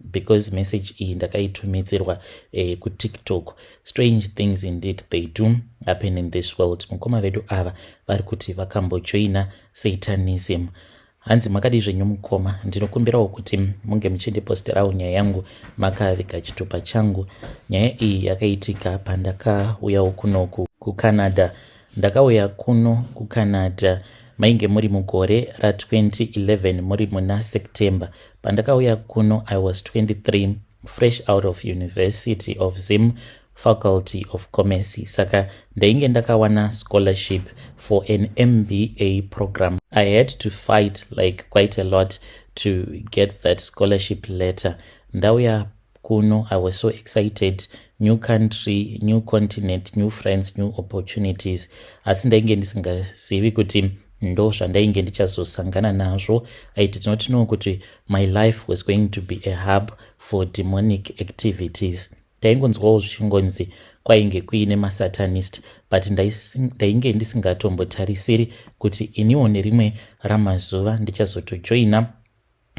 because message iyi ndakaitumidzirwa eh, kutiktok strange things indeed they do happen in this world mukoma vedu ava vari kuti vakambojoina satanism hanzi makadii zvenyu mukoma ndinokumbirawo kuti munge muchindiposterawo nyaya yangu makaviga chitupa changu nyaya iyi yakaitika pandakauyawo kunoku kucanada Ndakauya kuno kuCanada mainge muri mugore ra 2011 muri muna September. Pandakauya kuno I was 23 fresh out of University of Zim faculty of commerce saka ndainge ndakawana scholarship for an mba program i had to fight like quite a lot to get that scholarship letter ndauya kuno i was so excited new country new continent new friends new opportunities asi ndainge ndisingazivi kuti ndo zvandainge ndichazosangana nazvo i did not know kuti my life was going to be a hub for demonic activities taingonzwawo zvichingonzi kwainge kuine masatanist but ndainge ndisingatombotarisiri kuti iniwo nerimwe ramazuva ndichazotojoina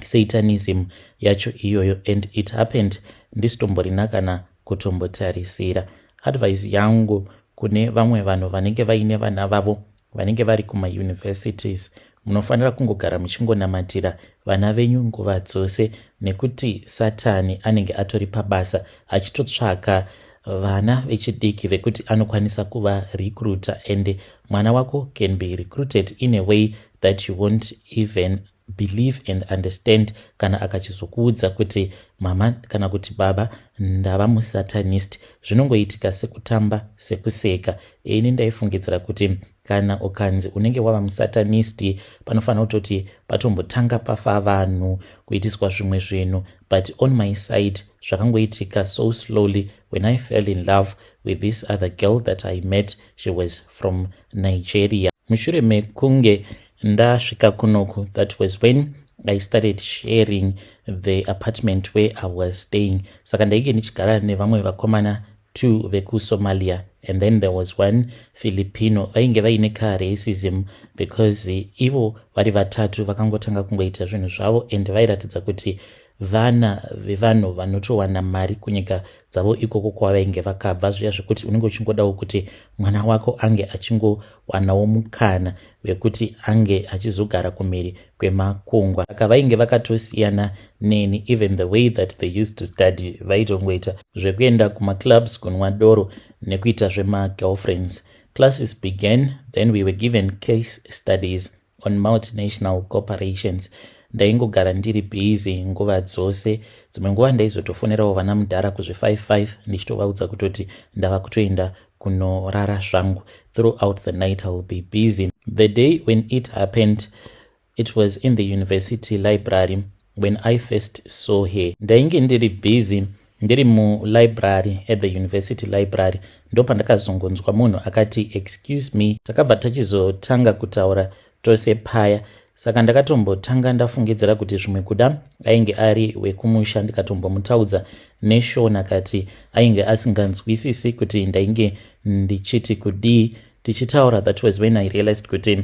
satanism yacho iyoyo and it happened ndisitomborina kana kutombotarisira advice yangu kune vamwe vanhu vanenge vaine vana vavo vanenge vari kumauniversities munofanira kungogara muchingonamatira vana venyu nguva dzose nekuti satani anenge atori pabasa achitotsvaka vana vechidiki vekuti anokwanisa kuva recruiter and mwana wako can be recruited in a way that you won't even believe and understand kana akachizokuudza kuti mama kana kuti baba ndava musatanist zvinongoitika sekutamba sekuseka ini ndaifungidzira kuti kana ukanzi unenge wava musatanist panofanira kutoti patombotanga pafa vanhu kuitiswa zvimwe zvinhu but on my side zvakangoitika so slowly when i fell in love with this other girl that i met she was from nigeria mushure mekunge ndasvika kunoku that was when i started sharing the apartment where i was staying saka ndainge ndichigara nevamwe vakomana two vekusomalia and then there was one filipino vainge vaine ka racism because ivo vari vatatu vakangotanga kungoita zvinhu zvavo and vairatidza kuti vana vevanhu vanotowana mari kunyika dzavo ikoko kwavainge vakabva zviya zvekuti unenge uchingodawo kuti mwana wako ange achingowanawo mukana vekuti ange achizogara kumhiri kwemakungwa aka vainge vakatosiyana neni even the way that they used to study vaitongoita zvekuenda kumaclubs kunwa doro nekuita zvemagirlfriends classes began then we were given case studies on multinational corporations ndaingogara ndiri busy nguva dzose dzimwe nguva ndaizotofonerawo vana mudhara kuzvi 55 ndichitovaudza kutoti ndava kutoenda kunorara zvangu throughout the night iwill be busy the day when it happened it was in the university library When I first saw her ndainge ndiri busy ndiri mulibrary at the university library ndopandakazongonzwa munhu akati excuse me takabva tachizotanga kutaura tose paya saka ndakatombotanga ndafungidzira kuti zvimwe kuda ainge ari wekumusha ndikatombomutaudza neshona kati ainge asinganzwisisi kuti ndainge ndichiti kudii tichitaura that was when i realized kuti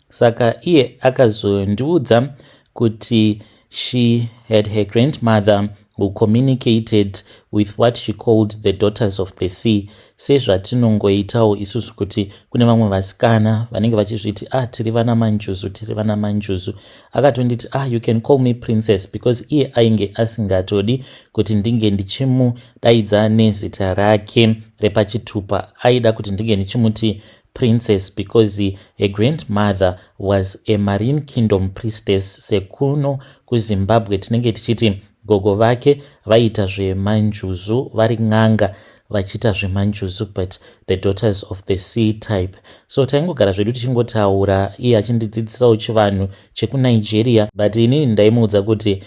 saka iye akazondiudza kuti she had her grandmother who communicated with what she called the daughters of the sea sezvatinongoitawo isusu kuti kune vamwe vasikana vanenge vachizviti ah tiri vana manjuzu tiri vana manjuzu akatonditi ah you can call me princess because iye ainge asingatodi kuti ndinge ndichimudaidza nezita rake repachitupa aida kuti ndinge ndichimuti Princess because her grandmother was a marine kingdom priestess sekuno kuzimbabwe tinenge tichiti gogo vake vaiita zvemanjuzu vari n'anga vachiita zvemanjuzu but the daughters of the sea type so taingogara zvedu tichingotaura iye achindidzidzisawo chivanhu chekunigeria but ini ndaimuudza kuti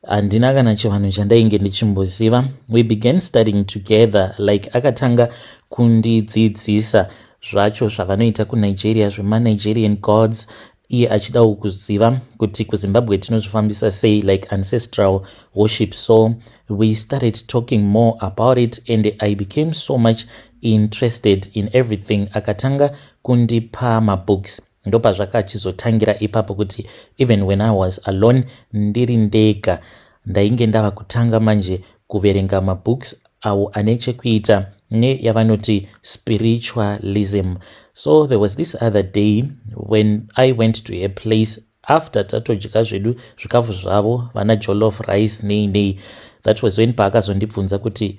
handina kana chivanhu chandainge ndichimboziva we began studying together like akatanga kundidzidzisa zvacho zvavanoita kunigeria zvemanigerian gods iye achidawo kuziva kuti kuzimbabwe tinozvifambisa sei like ancestral worship so we started talking more about it and i became so much interested in everything akatanga kundipa mabooks ndopazvakachizotangira ipapo kuti even when i was alone ndiri ndega ndainge ndava kutanga manje kuverenga mabooks awo ane chekuita neyavanoti spiritualism so there was this other day when i went to her place after tatodya zvedu zvikafu zvavo vana jolof rice nei nei that was when paakazondibvunza kuti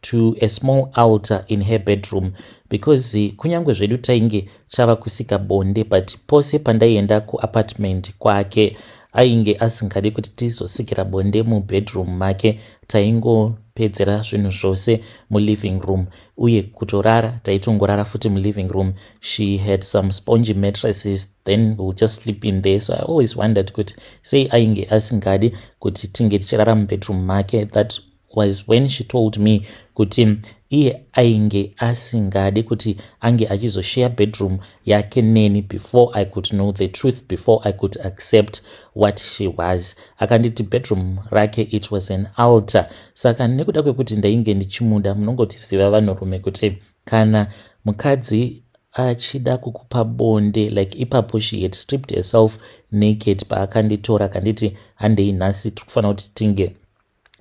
to a small altar in her bedroom because kunyange zvedu tainge chava kusika bonde but pose pandaienda kuapartment kwake ainge asingadi kuti tizosikira bonde mubedroom make taingopedzera zvinhu zvose muliving room uye kutorara taitongorara futi muliving room she had some spongy mattresses then will just sleep in there so i always wondered kuti sei ainge asingadi kuti tinge tichirara mubedroom make that was when she told me kuti iye ainge asingade kuti ange achizosheya bedroom yake neni before i could know the truth before i could accept what she was akanditi bedroom rake it was an alter saka nekuda kwekuti ndainge ndichimuda munongotiziva vanhurume kuti kana mukadzi achida kukupa bonde like ipapo she had stripped herself naked paakanditora kanditi handei nhasi tiri kufanira kuti tinge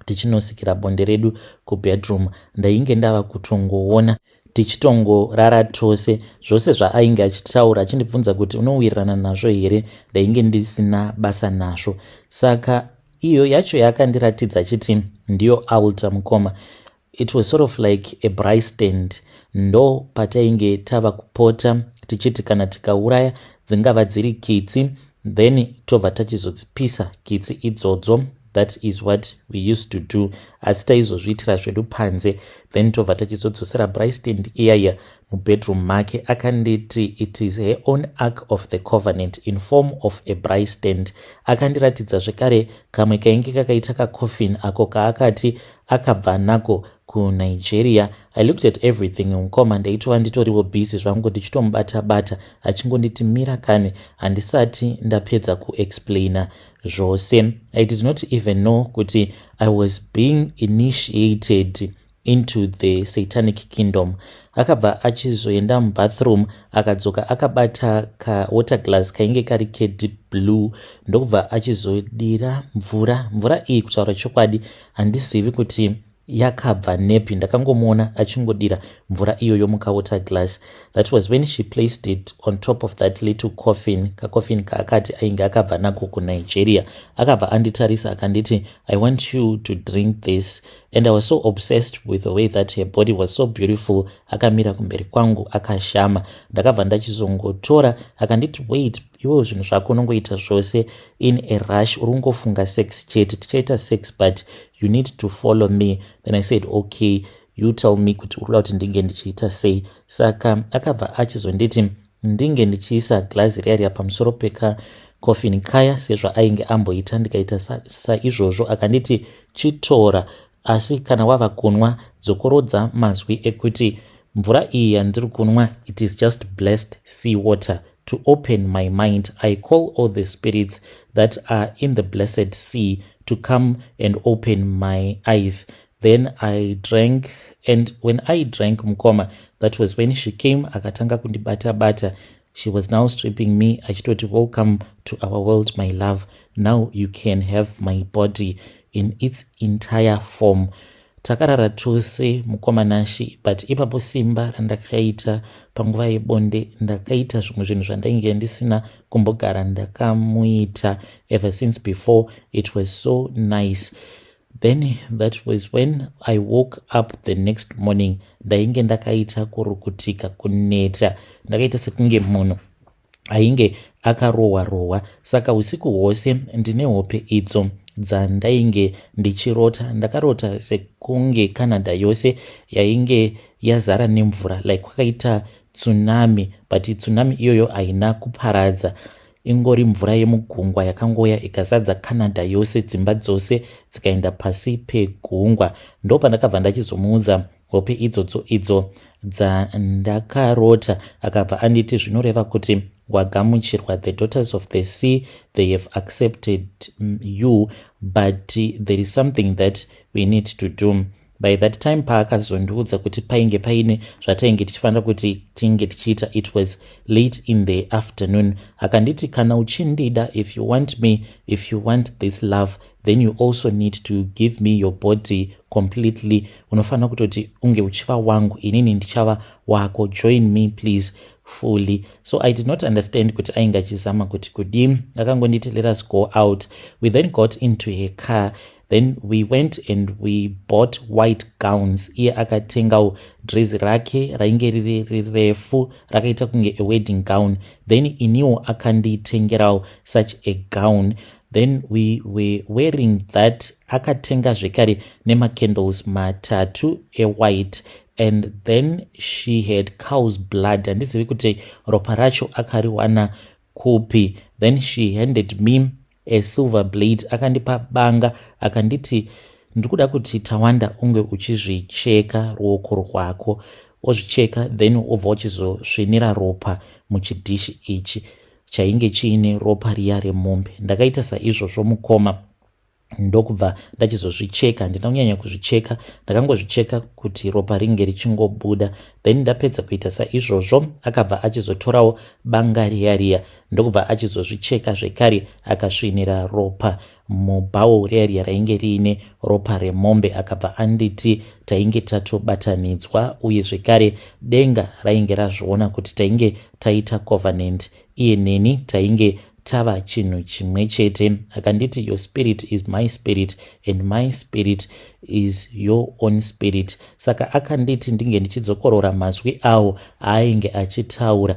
tichinosikira bonde redu kubedroom ndainge ndava kutongoona tichitongorara tose zvose zvaainge achitaura achindibvunza kuti unowirirana nazvo here ndainge ndisina basa nazvo saka iyo yacho yaakandiratidza achiti ndiyo alter mukoma It was sort of like a braai stand ndo patainge tava kupota tichiti kana tikauraya dzingava dziri kitsi then tobva tachizodzipisa kitsi idzodzo that is what we used to do asi taizozviitira zvedu panze then tobva tachizodzosera bristand iyaiya mubedroom make akanditi it is her own ark of the covenant in form of a bristand akandiratidza zvekare kamwe kainge kakaita kacoffin ako kaakati akabva nako kunigeria i looked at everything mukoma ndaitova nditoriwo busy zvangu ndichitomubata bata achingonditi mira kani handisati ndapedza kuexplaina zvose i did not even know kuti i was being initiated into the satanic kingdom akabva achizoenda mubathroom akadzoka akabata kawater glass kainge kari kedeep blue ndokubva achizodira mvura mvura iyi kutaura chokwadi handizivi kuti yakabva nepi ndakangomuona achingodira mvura iyoyo mukawater glass that was when she placed it on top of that little coffin kacoffin kaakati ainge akabva nako kunigeria akabva anditarisa akanditi i want you to drink this and i was so obsessed with the way that her body was so beautiful akamira kumberi kwangu akashama ndakabva ndachizongotora akanditi wait iwewo zvinhu zvako unongoita zvose in a rush uri kungofunga sex chete tichaita sex but you need to follow me then i said okay you tell me kuti uri kuda kuti ndinge ndichiita sei saka akabva achizonditi ndinge ndichiisa glazi riya riya pamusoro peka coffin kaya sezvaainge amboita ndikaita saizvozvo sa akanditi chitora Asi kana wava kunwa, dzokorodza mazwi ekuti, Mvura iyi yandiri kunwa, it is just blessed sea water. To open my mind, I call all the spirits that are in the blessed sea to come and open my eyes. Then I drank, and when I drank mukoma, that was when she came akatanga kundibata bata. she was now stripping me achitoti welcome to our world my love now you can have my body in its entire form takarara tose mukoma nashi but ipapo simba randakaita panguva yebonde ndakaita zvimwe zvinhu zvandainge ndisina kumbogara ndakamuita ever since before it was so nice Then that was when I woke up the next morning ndainge ndakaita kurukutika kuneta ndakaita sekunge munhu ainge akarohwa rohwa saka usiku hwose ndine hope idzo dzandainge ndichirota ndakarota sekunge canada yose yainge yazara nemvura like kwakaita tsunami but tsunami iyoyo haina kuparadza ingori mvura yemugungwa yakangoya ikazadza canada yose dzimba dzose dzikaenda pasi pegungwa ndo pandakabva ndachizomuudza hope idzodzo idzo dzandakarota akabva anditi zvinoreva kuti wagamuchirwa the daughters of the sea they have accepted mm, you but there is something that we need to do by that time paakazondiudza kuti painge paine zvatainge tichifanira kuti tinge tichiita it was late in the afternoon akanditi kana uchindida if you want me if you want this love then you also need to give me your body completely unofanira kutoti unge uchiva wangu inini ndichava wako join me please fully so i did not understand kuti ainge achizama kuti kudii akangonditi let us go out we then got into her car then we went and we bought white gowns iye akatengawo dress rake rainge riri rirefu rakaita kunge a wedding gown then iniwo akanditengerawo such a gown then we were wearing that akatenga zvekare nemacandles matatu ewhite and then she had cows blood handizivi kuti ropa racho akariwana kupi then she handed me A silver blade akandipa banga akanditi ndiri kuda kuti tawanda unge uchizvicheka ruoko rwako ozvicheka then obva uchizosvinira ropa muchidhishi ichi chainge chiine ropa riya remombe ndakaita saizvozvo mukoma ndokubva ndachizozvicheka handina kunyanya kuzvicheka ndakangozvicheka kuti ropa ringe richingobuda then ndapedza kuita saizvozvo akabva achizotorawo banga riya riya ndokubva achizozvicheka zvekare akasvinira ropa mubhawo rearya rainge riine ropa remombe akabva anditi tainge tatobatanidzwa uye zvekare denga rainge razviona kuti tainge taita covenant iye neni tainge tava chinhu chimwe chete akanditi your spirit is my spirit and my spirit is your own spirit saka akanditi ndinge ndichidzokorora mazwi awo aainge achitaura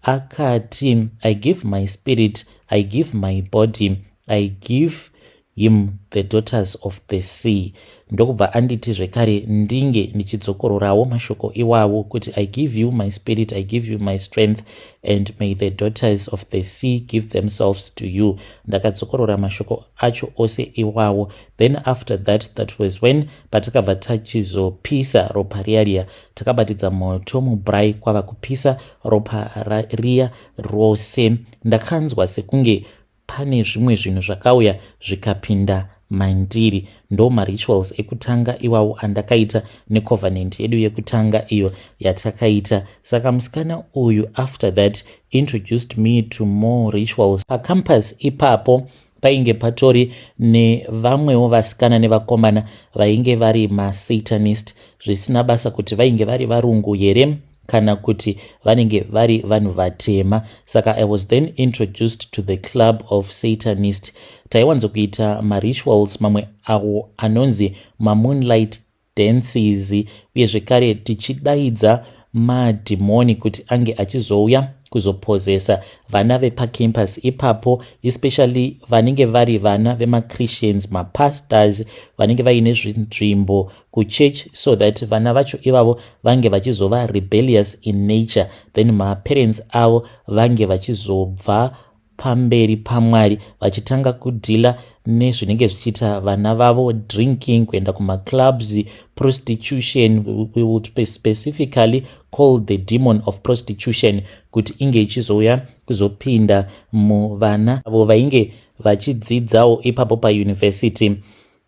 Akati, I give my spirit, I give my body, I give him the daughters of the sea. Ndokubva anditi zvekare ndinge ndichidzokororawo mashoko iwawo kuti I give you my spirit, I give you my strength and may the daughters of the sea give themselves to you. Ndakadzokorora mashoko acho ose iwawo. Then after that, that was when patakabva tachizopisa ropa riya riya takabatidza moto mubrai kwava kupisa ropa riya rose ndakanzwa sekunge pane zvimwe zvinhu zvakauya zvikapinda mandiri ndo marituals ekutanga iwawo andakaita necovenant yedu yekutanga iyo yatakaita saka musikana uyu after that introduced me to more rituals pacampus ipapo painge patori nevamwewo vasikana nevakomana vainge vari masatanist zvisina basa kuti vainge vari varungu here kana kuti vanenge vari vanhu vatema saka i was then introduced to the club of satanist taiwanzokuita marituals mamwe awo anonzi mamoonlight dances uye zvekare tichidaidza madhimoni kuti ange achizouya kuzopozesa vana vepacampus ipapo especially vanenge vari vana vemachristians mapastors vanenge vaine zvinzvimbo kuchurch so that vana vacho ivavo vange vachizova rebellious in nature then maparents avo vange vachizobva pamberi pamwari vachitanga kudhila nezvinenge zvichiita vana vavo drinking kuenda kumaclubs prostitution we will specifically call the demon of prostitution kuti inge ichizouya kuzopinda muvana avo vainge vachidzidzawo ipapo pauniversity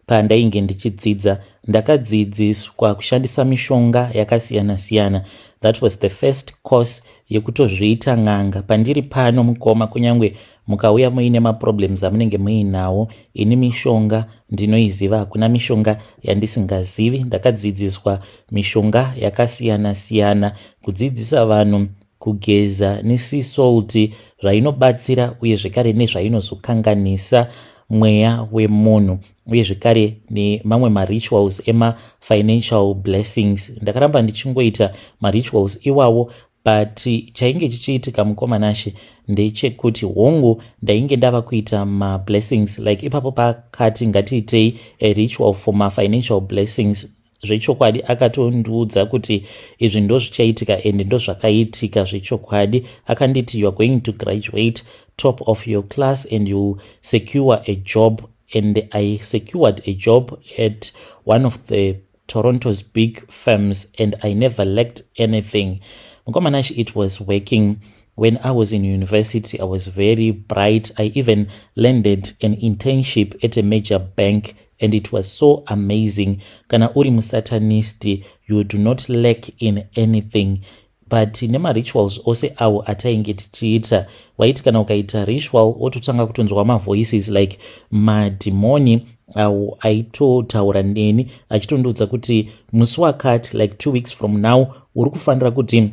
Pandainge ndichidzidza ndakadzidziswa kushandisa mishonga yakasiyana siyana. That was the first course yekutozviita n'anga. Pandiri pano mukoma, kunyange mukauya muine maproblems amunenge muinawo, ini mishonga ndinoiziva. Hakuna mishonga yandisingazivi. Ndakadzidziswa mishonga yakasiyana siyana, kudzidzisa vanhu kugeza nesisouti zvainobatsira uye zvekare nezvainozokanganisa mweya wemunhu uye zvekare nemamwe marituals emafinancial blessings ndakaramba ndichingoita marituals iwawo but chainge chichiitika mukomanashe ndechekuti hongu ndainge ndava kuita mablessings like ipapo pakati ngatiitei aritual for mafinancial blessings zvechokwadi akatondiudza kuti izvi ndozvichaitika and ndozvakaitika zvechokwadi akanditi youare going to graduate top of your class and you secure a job and i secured a job at one of the toronto's big firms and i never lacked anything mukomana shi it was working When I was in university, I was very bright. I even landed an internship at a major bank and it was so amazing. Kana uri musatanist, you do not lack in anything. but nemarituals ose awo atainge tichiita waiti kana ukaita ritual wototanga kutonzwa mavoices like madhimoni awo aitotaura neni achitondiudza kuti musi wakati like two weeks from now uri kufanira kuti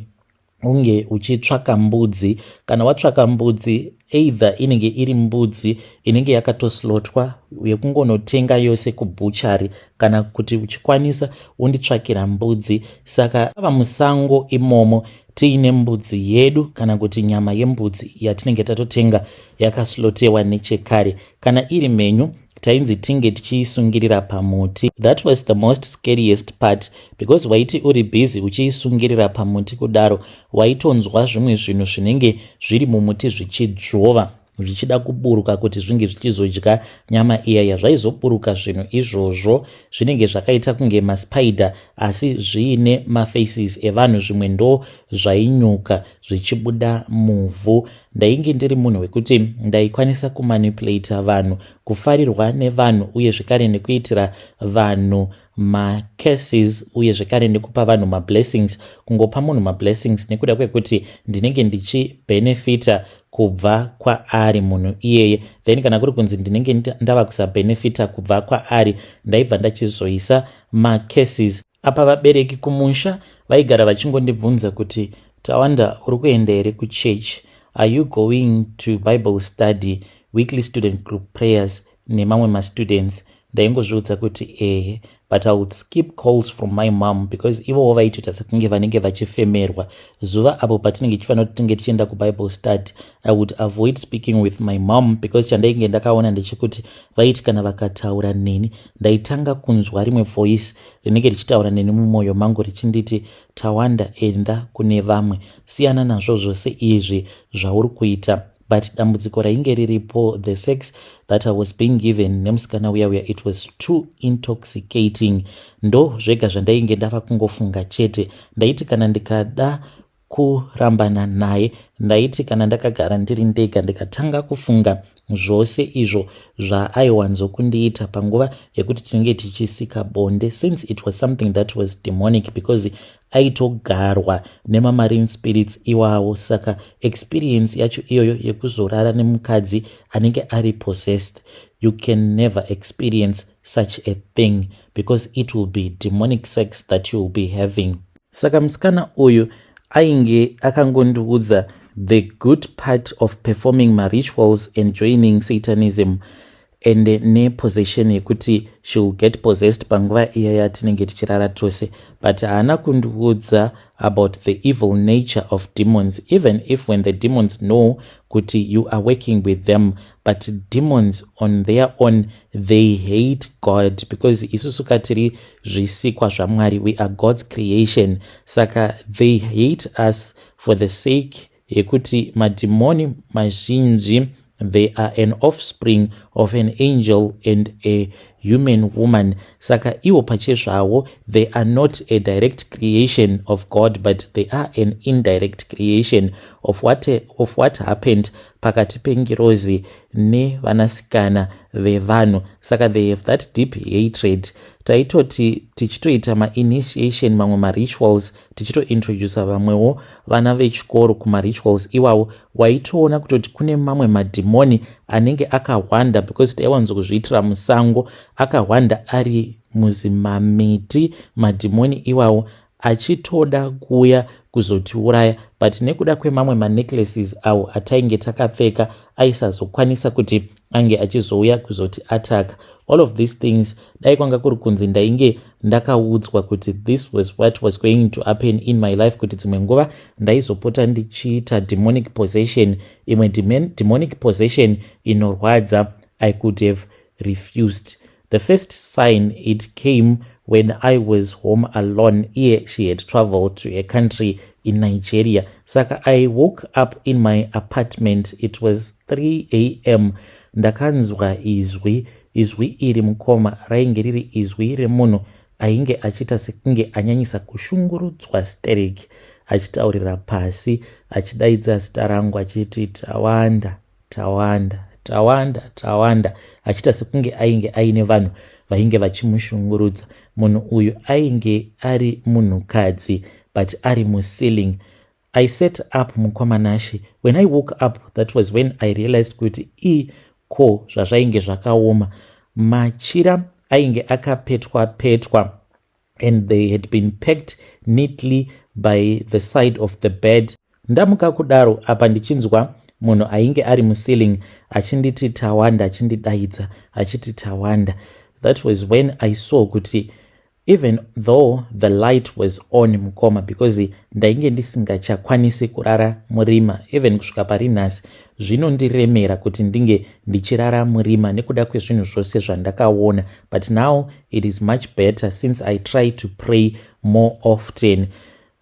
unge uchitsvaka mbudzi kana watsvaka mbudzi either inenge iri mbudzi inenge yakatoslotwa yekungonotenga yose kubhuchari kana kuti uchikwanisa unditsvakira mbudzi saka ava musango imomo tiine mbudzi yedu kana kuti nyama yembudzi yatinenge tatotenga yakaslotewa nechekare kana iri mhenyu tainzi tinge tichiisungirira pamuti that was the most scariest part because waiti uri busy uchiisungirira pamuti kudaro waitonzwa zvimwe zvinhu zvinenge zviri mumuti zvichidzvova zvichida kuburuka kuti zvinge zvichizodya nyama iya yazvaizoburuka zvinhu izvozvo zvinenge zvakaita kunge maspider asi zviine mafaces evanhu zvimwe ndo zvainyuka zvichibuda muvhu Ndainge ndiri munhu wekuti ndaikwanisa kumanipulator vanhu, kufarirwa nevanhu uye zvekare nekuitira vanhu macurses uye zvekare nekupa vanhu mablessings, kungopa munhu mablessings nekuda kwekuti ndinenge ndichibenefita kubva kwaari munhu iyeye then kana kuri kunzi ndinenge ndava kusabenefita kubva kwaari ndaibva ndachizoisa macases Apa vabereki kumusha vaigara vachingondibvunza kuti Tawanda uri kuenda here kuchurch? Are you going to Bible study, weekly student group prayers nemamwe mastudents? Ndaingozviudza kuti ehe but I would skip calls from my mom because ivowo vaitoita sekunge vanenge vachifemerwa. Zuva apo patinenge tichifanira kuti tinge tichienda kuBible study, I would avoid speaking with my mom because chandainge ndakaona ndechekuti vaiti kana vakataura neni ndaitanga kunzwa rimwe voice rinenge richitaura neni mumwoyo mangu richinditi tawanda enda kune vamwe siyana nazvo zvose izvi zvauri kuita but dambudziko rainge riripo the sex that i was being given nemusikana uya uya it was too intoxicating ndo zvega zvandainge ndava kungofunga chete ndaiti kana ndikada kurambana naye ndaiti kana ndakagara ndiri ndega ndikatanga kufunga zvose izvo zvaaiwanzo kundiita panguva yekuti tinenge tichisika bonde since it was something that was demonic because aitogarwa nemamarine spirits iwawo saka experience yacho iyoyo yekuzorara nemukadzi anenge ari possessed you can never experience such a thing because it will be demonic sex that you will be having saka musikana uyu ainge akangondiudza the good part of performing marituals and joining satanism and nepossession yekuti she will get possessed panguva iya yatinenge tichirara tose but haana kundiudza about the evil nature of demons even if when the demons know kuti you are working with them but demons on their own they hate god because isusu ka tiri zvisikwa zvaMwari we are God's creation saka they hate us for the sake yekuti madhimoni mazhinji they are an offspring of an angel and a human woman saka iwo pachezvavo they are not a direct creation of god but they are an indirect creation of what, of what happened pakati pengirozi nevanasikana vevanhu saka they have that deep hatred taitoti tichitoita mainitiation mamwe marituals tichitointroduca vamwewo vana vechikoro kumarituals iwawo waitoona kutoti kune mamwe madhimoni anenge akahwanda because taiwanzokuzviitira musango akahwanda ari muzimamiti madhimoni iwawo achitoda kuuya kuzotiuraya but nekuda kwemamwe manecklaces awo atainge takapfeka aisazokwanisa kuti ange achizouya kuzoti ataka all of these things dai kwanga kuri kunzi ndainge ndakaudzwa kuti this was what was going to happen in my life kuti dzimwe nguva ndaizopota ndichiita demonic possession imwe demonic possession inorwadza i could have refused The first sign it came when I was home alone iye she had traveled to a country in Nigeria. Saka I woke up in my apartment it was 3am ndakanzwa izwi izwi iri mukoma rainge riri izwi remunhu ainge achiita sekunge anyanyisa kushungurudzwa sterek achitaurira pasi achidaidza zita rangu achiti tawanda Tawanda, Tawanda, Tawanda achiita sekunge ainge aine vanhu vainge vachimushungurudza. Munhu uyu ainge ari munhukadzi but ari muceiling. I set up mukoma Nashe. When I woke up that was when I realized kuti i ko zvazvainge zvakaoma. Machira ainge akapetwa petwa. and they had been packed neatly by the side of the bed ndamuka kudaro apa ndichinzwa munhu ainge ari muceiling achinditi tawanda achindidaidza achiti tawanda that was when i saw kuti even though the light was on mukoma because ndainge ndisingachakwanisi kurara murima even kusvika pari nhasi zvinondiremera kuti ndinge ndichirara murima nekuda kwezvinhu zvose zvandakaona but now It is much better since I try to pray more often.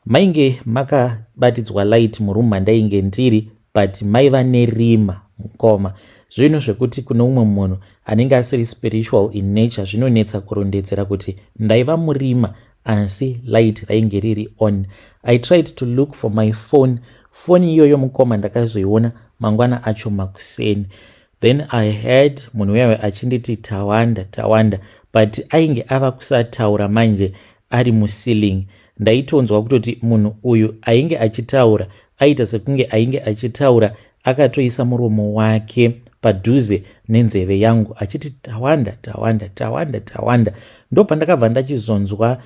Mainge makabatidzwa light muroom mandainge ndiri but maiva nerima mukoma zvinhu zvekuti kune umwe munhu anenge asiri spiritual in nature zvinonetsa kurondedzera kuti ndaiva murima asi light rainge riri on i tried to look for my phone foni iyoyo mukoma ndakazoiona mangwana acho makuseni Then I heard munhu uyawe achinditi Tawanda, Tawanda but ainge ava kusataura manje ari muceiling. Ndaitonzwa kutoti munhu uyu ainge achitaura, aita sekunge ainge achitaura akatoisa muromo wake padhuze nenzeve yangu achiti Tawanda, Tawanda, Tawanda, Tawanda. Ndopandakabva ndachizonzwa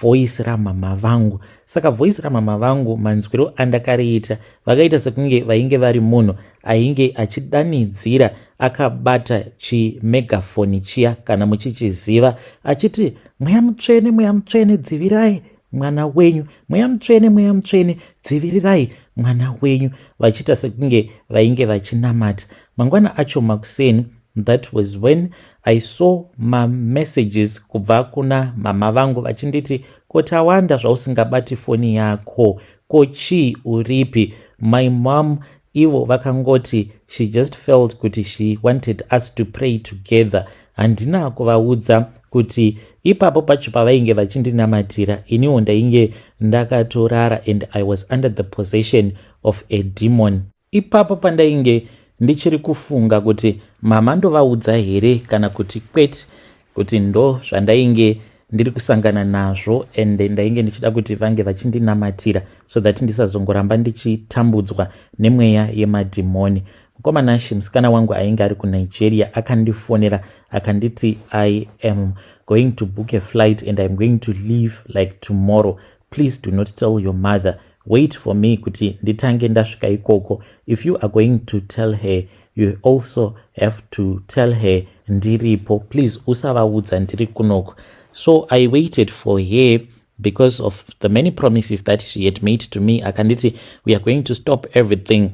voice ramama vangu saka voice ramama vangu manzwiro andakariita vakaita sekunge vainge vari munhu ainge achidanidzira akabata chimegafoni chiya kana muchichiziva achiti mweya mutsvene mweya mutsvene dzivirai mwana wenyu mweya mutsvene mweya mutsvene dzivirirai mwana wenyu vachiita sekunge vainge vachinamata mangwana acho makuseni That was when I saw ma messages kubva kuna mama vangu vachinditi ko Tawanda zvausingabati foni yako ko chii uripi my mom ivo vakangoti she just felt kuti she wanted us to pray together handina kuvaudza kuti ipapo pacho pavainge vachindinamatira iniwo ndainge ndakatorara and i was under the possession of a demon Ipapo pandainge ndichiri kufunga kuti mama ndovaudza here kana kuti kwete kuti ndo zvandainge ndiri kusangana nazvo and ndainge ndichida kuti vange vachindinamatira so that ndisazongoramba ndichitambudzwa nemweya yemadhimoni mukoma nashi musikana wangu ainge ari kunigeria akandifonera akanditi i am going to book a flight and iam going to leave like tomorrow please do not tell your mother wait for me kuti nditange ndasvika ikoko if you are going to tell her you also have to tell her ndiripo please usavaudza ndiri kunoko so i waited for her because of the many promises that she had made to me akanditi we are going to stop everything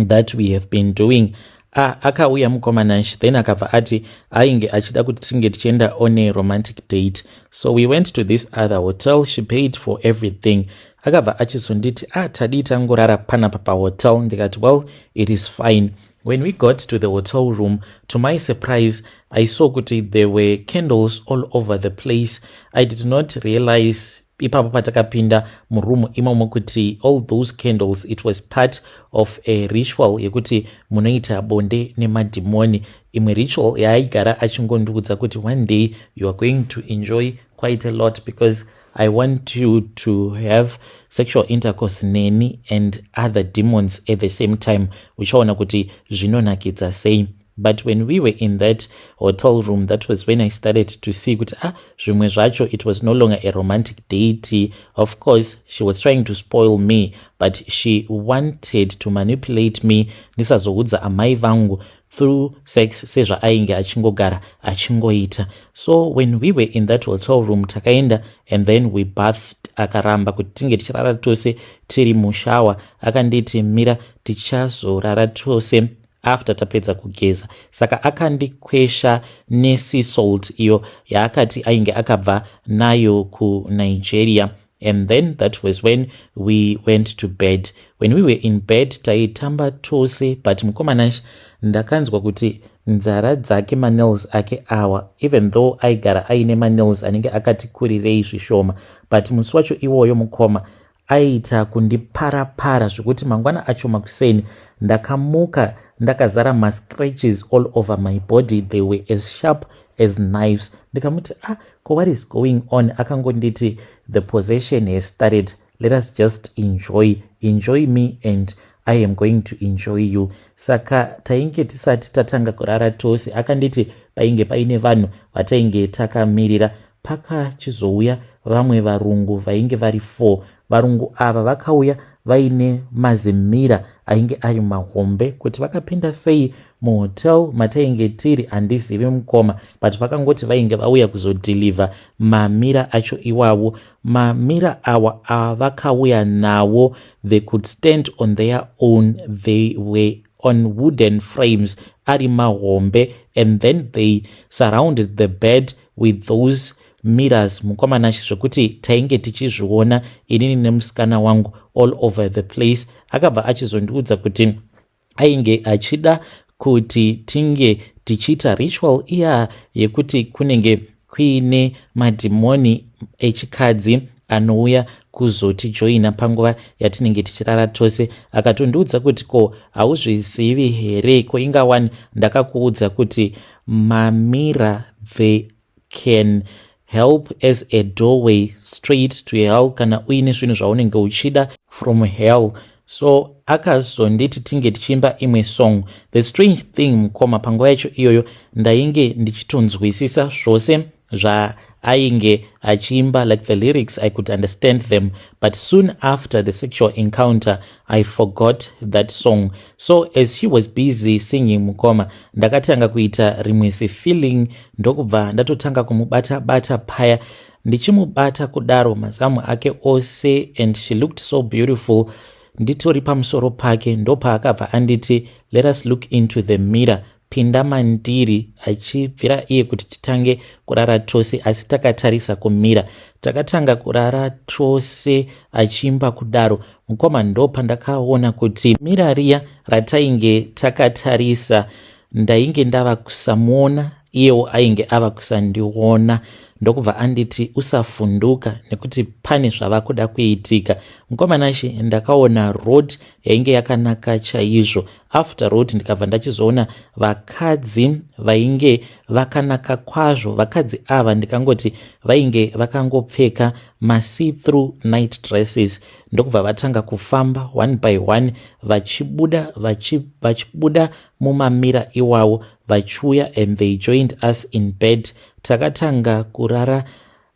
that we have been doing ah akauya mukomana nsh then akabva ati ainge achida kuti tinge tichienda on a romantic date so we went to this other hotel she paid for everything akabva achizonditi ah tadii tangorara panapa pahotel ndikati well it is fine when we got to the hotel room to my surprise i saw kuti there were candles all over the place i did not realize ipapo patakapinda muroom imomo kuti all those candles it was part of a ritual yekuti munoita bonde nemadhimoni imwe ritual yaaigara achingondiudza kuti one day you are going to enjoy quite a lot because i want you to have sexual intercourse neni and other demons at the same time uchaona kuti zvinonakidza sei but when we were in that hotel room that was when i started to see kuti ah zvimwe zvacho it was no longer a romantic date of course she was trying to spoil me but she wanted to manipulate me ndisazoudza amai vangu through sex sezvaainge achingogara achingoita so when we were in that hotel room takaenda and then we bathed akaramba kuti tinge tichirara tose tiri mushawa akanditi mira tichazorara tose after tapedza kugeza saka akandikwesha nesea salt iyo yaakati ainge akabva nayo kunigeria and then that was when we went to bed when we were in bed taitamba tose but mukomana ndakanzwa kuti nzara dzake manails ake awa even though aigara aine manails anenge akati kurirei zvishoma but musi wacho iwoyo mukoma aiita kundipara para zvekuti mangwana acho makuseni ndakamuka ndakazara mascratches all over my body they were as sharp as knives ndikamuti ah ko what is going on akangonditi the possession has started let us just enjoy enjoy me and i am going to enjoy you saka tainge tisati tatanga kurara tose akanditi painge paine vanhu vatainge takamirira Pakachizouya vamwe varungu vainge vari four. Varungu ava vakauya vaine mazimira ainge ari mahombe kuti vakapinda sei muhotel matainge tiri handizivi mukoma but vakangoti vainge vauya kuzodhilivha mamira acho iwavo mamira awa avakauya nawo they could stand on their own they were on wooden frames ari mahombe and then they surrounded the bed with those mirrors mukoma nashe zvekuti tainge tichizviona inini nemusikana wangu all over the place akabva achizondiudza kuti ainge achida kuti tinge tichiita ritual iya yekuti kunenge kuine madhimoni echikadzi anouya kuzotijoina panguva yatinenge tichirara tose akatondiudza kuti ko hauzvizivi here ko ingawani ndakakuudza kuti uh, Mamira they can help as a doorway straight to hell kana uine zvinhu zvaunenge uchida from hell so akazonditi tinge tichiimba imwe song the strange thing mukoma panguva yacho iyoyo ndainge ndichitonzwisisa zvose zvaainge achiimba like the lyrics i could understand them but soon after the sexual encounter i forgot that song so as he was busy singing mukoma ndakatanga kuita rimwe zifeeling ndokubva ndatotanga kumubata bata paya ndichimubata kudaro mazamu ake ose and she looked so beautiful nditori pamusoro pake ndopaakabva anditi let us look into the mirror pinda mandiri achibvira iye kuti titange kurara tose asi takatarisa kumira takatanga kurara tose achiimba kudaro mukoma ndo pandakaona kuti mira riya ratainge takatarisa ndainge ndava kusamuona iyewo ainge ava kusandiona ndokubva anditi usafunduka nekuti pane zvava kuda kuitika mukomana she ndakaona road yainge yakanaka chaizvo after road ndikabva ndachizoona vakadzi vainge vakanaka kwazvo vakadzi ava ndikangoti vainge vakangopfeka masee through night dresses ndokubva vatanga kufamba one by one vachibuda vachibuda mumamira iwawo vachiuya and they joined us in bed takatanga kurara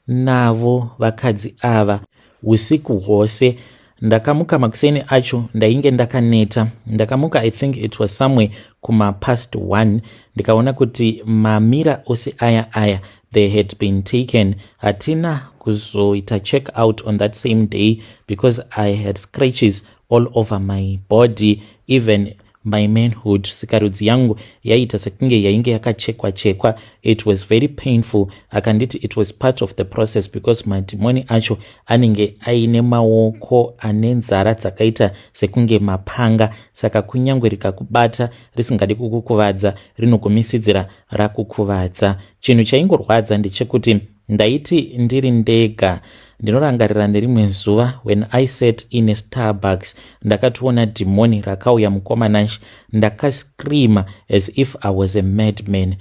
navo vakadzi ava usiku hwose ndakamuka makuseni acho ndainge ndakaneta ndakamuka i think it was somewhere kumapast one ndikaona kuti mamira ose aya aya they had been taken hatina kuzoita check out on that same day because i had scratches all over my body even My manhood, sikarudzi yangu yaiita sekunge yainge yakachekwa chekwa. It was very painful. Akanditi it was part of the process because madhimoni acho anenge aine maoko ane nzara dzakaita sekunge mapanga, saka kunyange rikakubata risingadi kukukuvadza, rinogumisidzira rakukuvadza. Chinhu chaingorwadza ndechekuti Ndaiti ndiri ndega. Ndinorangarira nerimwe zuva when I sat in a Starbucks ndakatoona dhimoni rakauya mukomanansh ndakascreama as if I was a madman.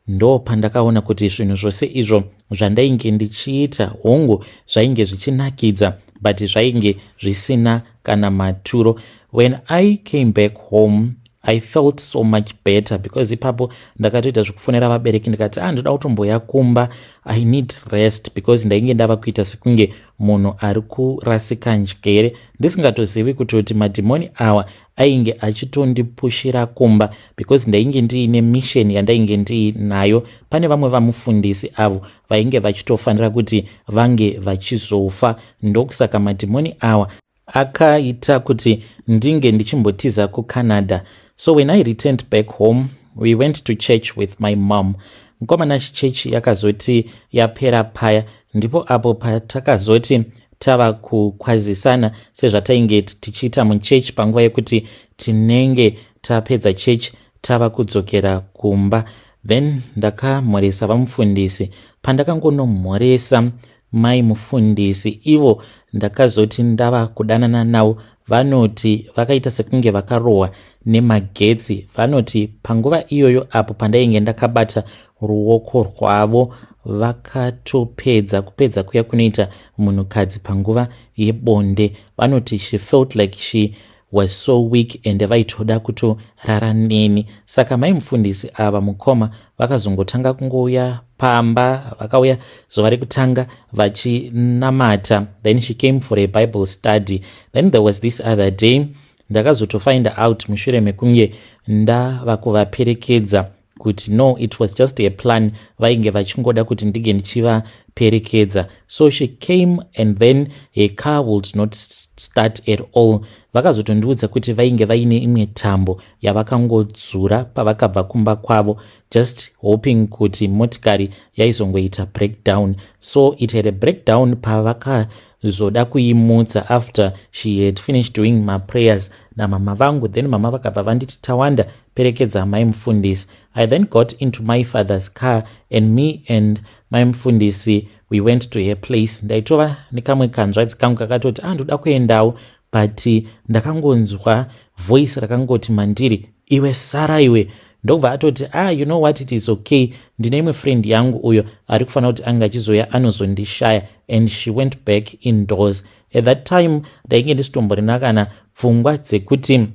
Ndo pandakaona kuti zvinhu zvose izvo zvandainge ndichiita hongu zvainge zvichinakidza but zvainge zvisina kana maturo. When I came back home i felt so much better because ipapo ndakatoita zvekufonera vabereki ndikati a ah, ndoda kutomboya kumba i need rest because ndainge ndava kuita sekunge munhu ari kurasika njere ndisingatozivi kuti kuti madhimoni awa ainge achitondipushira kumba because ndainge ndiine mission yandainge ndiinayo pane vamwe vamufundisi avo vainge vachitofanira kuti vange vachizofa ndokusaka madhimoni awa akaita kuti ndinge ndichimbotiza kucanada so when i returned back home we went to church with my mom mukomana chichechi yakazoti yapera paya ndipo apo patakazoti tava kukwazisana sezvatainge tichiita muchechi panguva yekuti tinenge tapedza chechi tava kudzokera kumba then ndakamhoresa vamufundisi pandakangonomhoresa Mai mufundisi ivo ndakazoti ndava kudanana navo vanoti vakaita sekunge vakarohwa nemagetsi vanoti panguva iyoyo apo pandainge ndakabata ruoko rwavo vakatopedza kupedza kuya kunoita munhukadzi panguva yebonde vanoti she felt like she was so weak ende vaitoda kutorara neni saka mai mufundisi ava mukoma vakazongotanga kungouya pamba vakauya zuva rekutanga vachinamata then she came for a bible study then there was this other day ndakazotofind out mushure mekunge ndava kuvaperekedza kuti no it was just a plan vainge vachingoda kuti ndinge ndichivaperekedza so she came and then her car would not start at all vakazotondiudza kuti vainge vaine imwe tambo yavakangodzura pavakabva kumba kwavo just hoping kuti motikari yaizongoita breakdown so it had a breakdown pavaka zvoda kuimutsa after she had finished doing maprayers namama vangu then mama vakabva vanditi tawanda perekedza amai mufundisi i then got into my father's car and me and mai mufundisi we went to her place ndaitova nekamwe kanzvadzi kangu kakatoti andoda ah, kuendawo but ndakangonzwa voice rakangoti mandiri iwe sara iwe ndokubva atoti ah you know what it is okay ndine imwe friend yangu uyo ari kufanira kuti ange achizoya anozondishaya and she went back indoors at that time ndainge ndisitomborina kana pfungwa dzekuti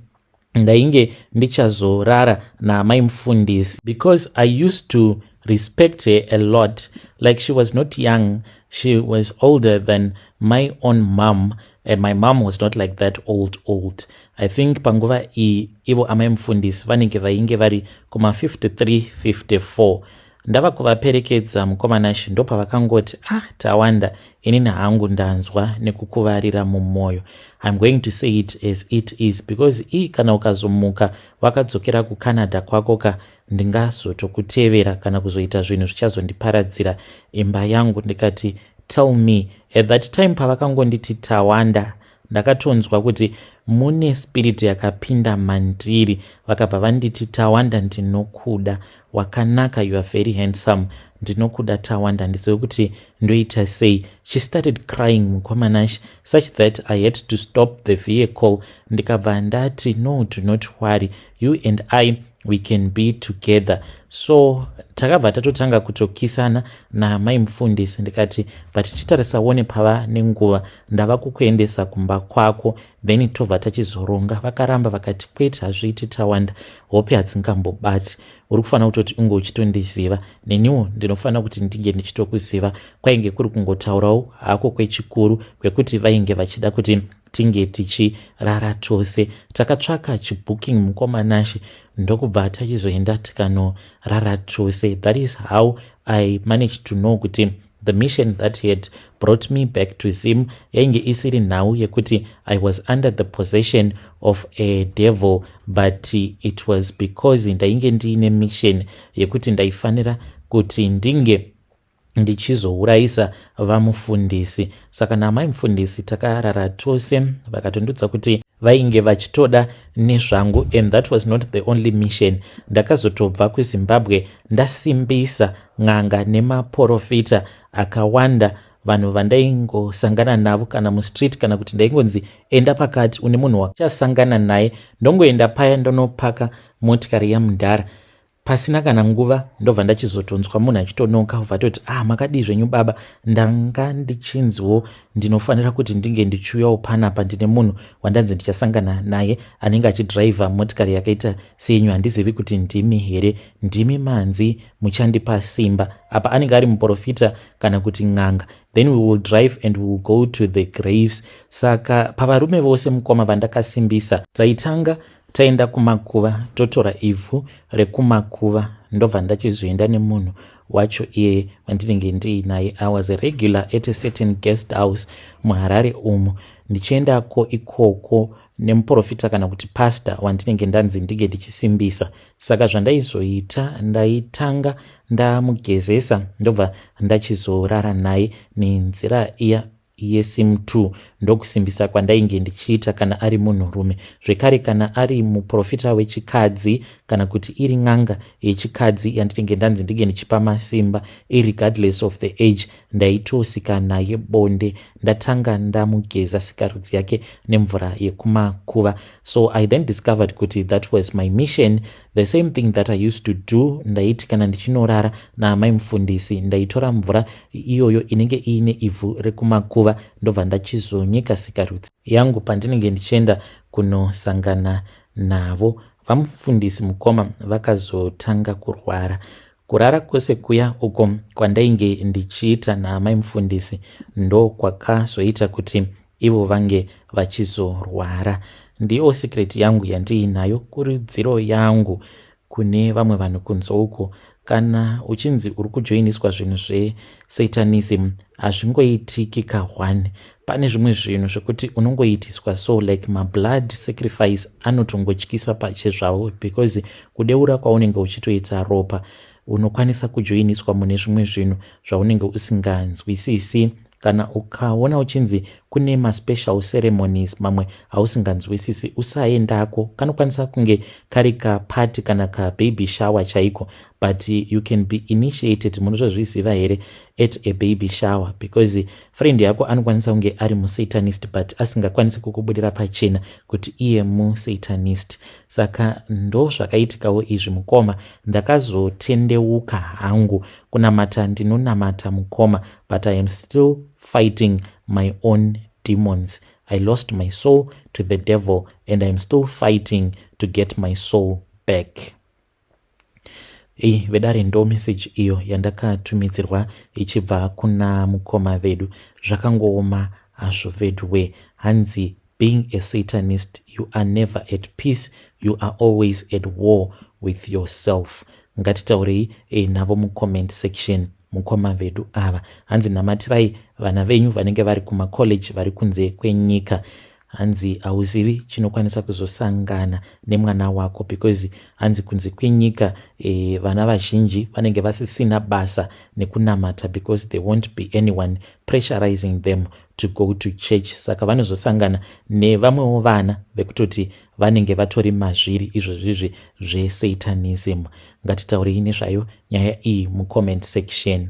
ndainge ndichazorara naamai mufundisi because i used to respect her a lot like she was not young she was older than my own mom and my mom was not like that old old i think panguva iyi ivo amai mufundisi vanenge vainge vari kuma 53 54 ndava kuvaperekedza mukoma nashe ndopavakangoti ah tawanda inini hangu ndanzwa nekukuvarira mumwoyo iam going to say it as it is because ii kana ukazomuka wakadzokera kucanada kwako ka ndingazotokutevera kana kuzoita zvinhu zvichazondiparadzira imba yangu ndikati tell me at that time pavakangonditi tawanda ndakatonzwa kuti mune spirit yakapinda mandiri vakabva vanditi tawanda ndinokuda wakanaka you are very handsome ndinokuda tawanda handizive kuti ndoita sei she started crying mukomanash such that i had to stop the vehicle ndikabva ndati no do not worry you and i we can be together so takabva tatotanga kutokisana namai mufundisi ndikati but chitarisa wone pava nenguva ndava kukuendesa kumba kwako then tobva tachizoronga vakaramba vakati kwete hazviiti tawanda hope hadzingambobati uri kufanira kutoti unge uchitondiziva neniwo ndinofanira kuti ndinge ndichitokuziva kwainge kuri kungotaurawo hako kwechikuru kwekuti vainge vachida kuti tinge tichirara tose takatsvaka chibooking mukoma nashe ndokubva tachizoenda tikanorara tose that is how i managed to know kuti the mission that he had brought me back to zim yainge isiri nhau yekuti i was under the possession of a devil but it was because ndainge ndiine mission yekuti ndaifanira kuti ndinge ndichizourayisa vamufundisi saka naamai mufundisi takarara tose vakatondudza kuti vainge vachitoda nezvangu and that was not the only mission ndakazotobva kuzimbabwe ndasimbisa n'anga nemaporofita akawanda vanhu vandaingosangana navo kana mustreet kana kuti ndaingonzi enda pakati une munhu wachasangana naye ndongoenda paya ndonopaka motikari yamudhara Pasina kana nguva ndobva ndachizotonzwa munhu achitonoka obva atoti ah makadii zvenyu baba ndanga ndichinziwo ndinofanira kuti ndinge ndichiuyawo panapa ndine munhu wandanzi ndichasangana naye anenge achidhiraivha motikari yakaita seyenyu handizivi kuti ndimi here ndimi manzi muchandipa simba apa anenge ari muprofita kana kuti n'anga then we will drive and we will go to the graves saka pavarume vose mukoma vandakasimbisa taitanga taenda kumakuva totora ivhu rekumakuva ndobva ndachizoenda nemunhu wacho iye wandinenge ndiinaye i was a regular at a certain guest house muharare umu ndichiendako ikoko nemuprofita kana kuti pasta wandinenge ndanzi ndinge ndichisimbisa saka zvandaizoita ndaitanga ndamugezesa ndobva ndachizorara naye nenzira iya iye sim two ndokusimbisa kwandainge ndichiita kana ari munhurume zvekare kana ari muprofita wechikadzi kana kuti iri n'anga yechikadzi yandinenge ndanzi ndinge ndichipa masimba iregardless of the age ndaitosika naye bonde ndatanga ndamugeza sikarudzi yake nemvura yekumakuva so i then discovered kuti that was my mission The same thing that I used to do ndaiti kana ndichinorara naamai mufundisi ndaitora mvura iyoyo inenge iine ivhu rekumakuva ndobva ndachizonyika sikarudzi yangu pandinenge ndichienda kunosangana navo vamufundisi mukoma vakazotanga kurwara Kurara kwose kuya uko kwandainge ndichiita naamai mufundisi ndo kwakazoita kuti ivo vange vachizorwara. Ndiyo secret yangu yandiinayo kurudziro yangu kune vamwe vanhu kunze uko kana uchinzi uri kujoiniswa zvinhu zvesatanism hazvingoitiki kahwani pane zvimwe zvinhu zvekuti unongoitiswa so like mablood sacrifice anotongotyisa pache zvavo because kudeura kwaunenge uchitoita ropa unokwanisa kujoiniswa mune zvimwe zvinhu zvaunenge usinganzwisisi kana ukaona uchinzi kune maspecial ceremonies mamwe hausinganzwisisi usaendako kanokwanisa kunge kari kapati kana kababy shower chaiko but you can be initiated munotozviziva here at a baby shower because friend yako anokwanisa kunge ari musatanist but asingakwanisi kukubudira pachena kuti iye musatanist saka ndo zvakaitikawo izvi mukoma ndakazotendeuka hangu kunamata ndinonamata mukoma but i am still fighting my own demons i lost my soul to the devil and iam still fighting to get my soul back Hey, vedare ndo message iyo yandakatumidzirwa ichibva kuna mukoma vedu zvakangooma hazvo veduwe hanzi being a satanist you are never at peace you are always at war with yourself ngatitaurei e, navo mucomment section mukoma vedu ava hanzi namatirai vana venyu vanenge vari kumacollege vari kunze kwenyika hanzi hauzivi chinokwanisa kuzosangana nemwana wako because hanzi kunzi kwinyika e, vana vazhinji vanenge vasisina basa nekunamata because they won't be anyone pressurizing them to go to church saka vanozosangana nevamwewo vana vekutoti vanenge vatori mazviri izvo zvizvi zvesatanism ngatitaurei nezvayo nyaya iyi mucomment section